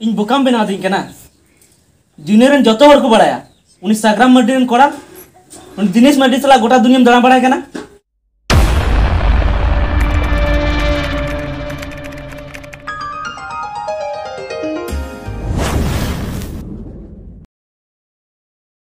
ᱤᱧ ᱵᱚᱠᱟᱢ ᱵᱮᱱᱟᱣ ᱫᱤᱧ ᱠᱟᱱᱟ ᱫᱩᱱᱤᱭᱟᱹ ᱨᱮᱱ ᱡᱚᱛᱚ ᱦᱚᱲ ᱠᱚ ᱵᱟᱲᱟᱭᱟ ᱩᱱᱤ ᱥᱟᱜᱨᱟᱢ ᱢᱟᱨᱰᱤ ᱨᱮᱱ ᱠᱚᱲᱟ ᱩᱱᱤ ᱫᱤᱱᱮᱥ ᱢᱟᱨᱰᱤ ᱥᱟᱞᱟᱜ ᱜᱚᱴᱟ ᱫᱩᱱᱤᱭᱟᱹᱢ ᱫᱟᱬᱟ ᱵᱟᱲᱟᱭ ᱠᱟᱱᱟ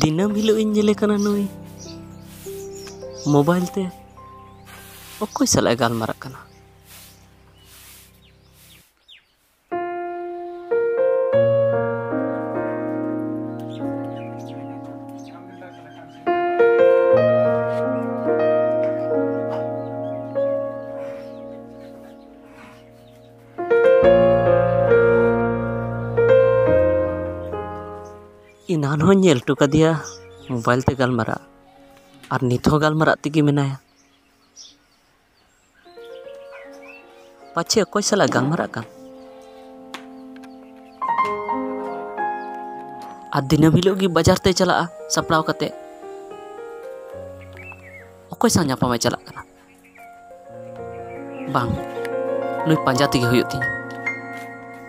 ᱫᱤᱱᱟᱹᱢ ᱦᱤᱞᱳᱜ ᱤᱧ ᱧᱮᱞᱮ ᱠᱟᱱᱟ ᱱᱩᱭ ᱢᱳᱵᱟᱭᱤᱞ ᱛᱮ ᱚᱠᱚᱭ ᱥᱟᱞᱟᱜ ᱮ ᱜᱟᱞᱢᱟᱨᱟᱜ ᱠᱟᱱᱟ ᱮᱱᱟᱱ ᱦᱚᱸᱧ ᱧᱮᱞ ᱦᱚᱴᱚ ᱠᱟᱫᱮᱭᱟ ᱢᱳᱵᱟᱭᱤᱞ ᱛᱮ ᱜᱟᱞᱢᱟᱨᱟᱜ ᱟᱨ ᱱᱤᱛ ᱦᱚᱸ ᱜᱟᱞᱢᱟᱨᱟᱜ ᱛᱮᱜᱮ ᱢᱮᱱᱟᱭᱟ ᱯᱟᱪᱷᱮ ᱚᱠᱚᱭ ᱥᱟᱞᱟᱜ ᱜᱟᱞᱢᱟᱨᱟᱜ ᱠᱟᱱ ᱟᱨ ᱫᱤᱱᱟᱹᱢ ᱦᱤᱞᱳᱜ ᱜᱮ ᱵᱟᱡᱟᱨ ᱛᱮ ᱪᱟᱞᱟᱜᱼᱟ ᱥᱟᱯᱲᱟᱣ ᱠᱟᱛᱮ ᱚᱠᱚᱭ ᱥᱟᱶ ᱧᱟᱯᱟᱢᱮ ᱪᱟᱞᱟᱜ ᱠᱟᱱᱟ ᱵᱟᱝ ᱱᱩᱭ ᱯᱟᱸᱡᱟ ᱛᱮᱜᱮ ᱦᱩᱭᱩᱜ ᱛᱤᱧᱟᱹ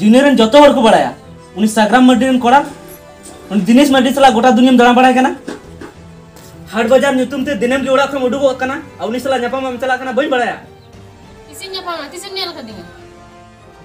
ᱫᱩᱱᱤᱭᱟᱹ ᱨᱮᱱ ᱡᱚᱛᱚ ᱦᱚᱲ ᱠᱚ ᱵᱟᱲᱟᱭᱟ ᱩᱱᱤ ᱥᱟᱜᱨᱟᱢ ᱢᱟᱨᱰᱤ ᱨᱮᱱ ᱠᱚᱲᱟ ᱩᱱᱤ ᱫᱤᱱᱮᱥ ᱢᱟᱨᱰᱤ ᱥᱟᱞᱟᱜ ᱜᱚᱴᱟ ᱫᱩᱱᱤᱭᱟᱹᱢ ᱫᱟᱬᱟ ᱵᱟᱲᱟᱭ ᱠᱟᱱᱟ ᱦᱟᱴ ᱵᱟᱡᱟᱨ ᱧᱩᱛᱩᱢ ᱛᱮ ᱫᱤᱱᱟᱹᱢ ᱜᱮ ᱚᱲᱟᱜ ᱠᱷᱚᱱ ᱩᱰᱩᱠᱚᱜ ᱠᱟᱱᱟ ᱟᱨ ᱩᱱᱤ ᱥᱟᱞᱟᱜ ᱧᱟᱯᱟᱢ ᱮᱢ ᱪᱟᱞᱟᱜ ᱠᱟᱱᱟ ᱵᱟᱹᱧ ᱵᱟᱲᱟᱭᱟ ᱛᱤᱥᱤᱧ ᱧᱟᱯᱟᱢᱟ ᱛᱤᱥᱮᱢ ᱧᱮᱞ ᱠᱟᱫᱤᱧᱟ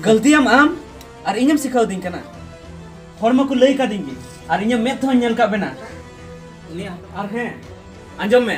ᱜᱟᱹᱞᱛᱤᱭᱟᱢ ᱟᱢ ᱟᱨ ᱤᱧᱮᱢ ᱥᱤᱠᱷᱟᱹᱣ ᱫᱤᱧ ᱠᱟᱱᱟ ᱦᱚᱲ ᱢᱟᱠᱚ ᱞᱟᱹᱭ ᱠᱟᱫᱤᱧ ᱜᱮ ᱟᱨ ᱤᱧᱟᱹᱜ ᱢᱮᱫ ᱛᱮᱦᱚᱸᱧ ᱧᱮᱞ ᱠᱟᱜ ᱵᱮᱱᱟ ᱩᱱᱤ ᱟᱨ ᱦᱮᱸ ᱟᱸᱡᱚᱢ ᱢᱮ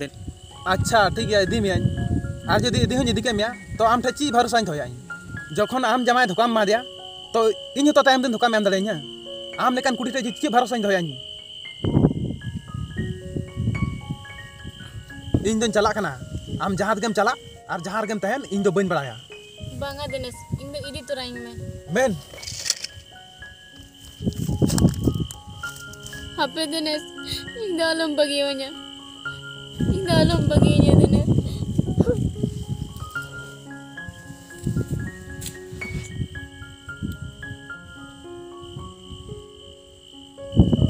ᱫᱮᱱ ᱟᱪᱪᱷᱟ ᱴᱷᱤᱠ ᱜᱮᱭᱟ ᱤᱫᱤ ᱢᱮᱭᱟᱹᱧ ᱟᱨ ᱡᱩᱫᱤ ᱤᱫᱤ ᱦᱚᱸᱧ ᱤᱫᱤ ᱠᱮᱫ ᱢᱮᱭᱟ ᱛᱚ ᱟᱢ ᱴᱷᱮᱱ ᱪᱮᱫ ᱵᱷᱚᱨᱥᱟᱧ ᱫᱚᱦᱚᱭᱟ ᱤᱧ ᱡᱚᱠᱷᱚᱱ ᱟᱢ ᱡᱟᱢᱟᱭ ᱫᱷᱳᱠᱟᱢ ᱮᱢᱟᱫᱮᱭᱟ ᱛᱚ ᱤᱧ ᱦᱚᱸᱛᱚ ᱛᱟᱭᱚᱢ ᱫᱤᱱ ᱫᱷᱳᱠᱟᱢ ᱮᱢ ᱫᱟᱲᱮᱭᱟᱹᱧᱟ ᱟᱢ ᱞᱮᱠᱟᱱ ᱠᱩᱲᱤ ᱴᱷᱮᱱ ᱪᱮᱫ ᱵᱷᱚᱨᱥᱟᱧ ᱫᱚᱦᱚᱭᱟ ᱤᱧ ᱤᱧ ᱫᱚᱧ ᱪᱟᱞᱟᱜ ᱠᱟᱱᱟ ᱟᱢ ᱡᱟᱦᱟᱸ ᱨᱮᱜᱮᱢ ᱪᱟᱞᱟᱜ ᱟᱨ ᱡᱟᱦᱟᱸ ᱨᱮᱜᱮᱢ ᱛᱟᱦᱮᱱ ᱤᱧ ᱫᱚ ᱵᱟᱹᱧ ᱵᱟᱲᱟᱭᱟ ᱵᱟᱝᱟ ᱫᱤᱱᱮᱥ ᱤᱧ ᱫᱚ ᱤᱫᱤ ᱛᱚᱨᱟᱧ ᱢᱮ ᱢᱮᱱ ᱦᱟᱯᱮ ᱫᱤᱱᱮᱥ ᱤᱧ ᱫᱚ ᱟᱞᱚᱢ ᱵᱟᱹᱜᱤᱭᱟᱹᱧᱟ ᱤᱧ ᱫᱚ ᱟᱞᱚᱢ ᱵᱟᱹᱜᱤᱭᱟᱹᱧᱟ ᱫᱤᱱᱮᱥ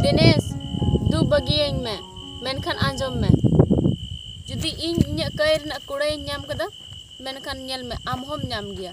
ᱫᱤᱱᱮᱥ ᱫᱩ ᱵᱟᱹᱜᱤᱭᱟᱹᱧ ᱢᱮ ᱢᱮᱱᱠᱷᱟᱱ ᱟᱸᱡᱚᱢ ᱢᱮ ᱡᱩᱫᱤ ᱤᱧ ᱤᱧᱟᱹᱜ ᱠᱟᱹᱭ ᱨᱮᱱᱟᱜ ᱠᱩᱲᱟᱹᱭᱤᱧ ᱧᱟᱢ ᱠᱮᱫᱟ ᱢᱮᱱᱠᱷᱟᱱ ᱧᱮᱞ ᱢᱮ ᱟᱢ ᱦᱚᱸᱢ ᱧᱟᱢ ᱜᱮᱭᱟ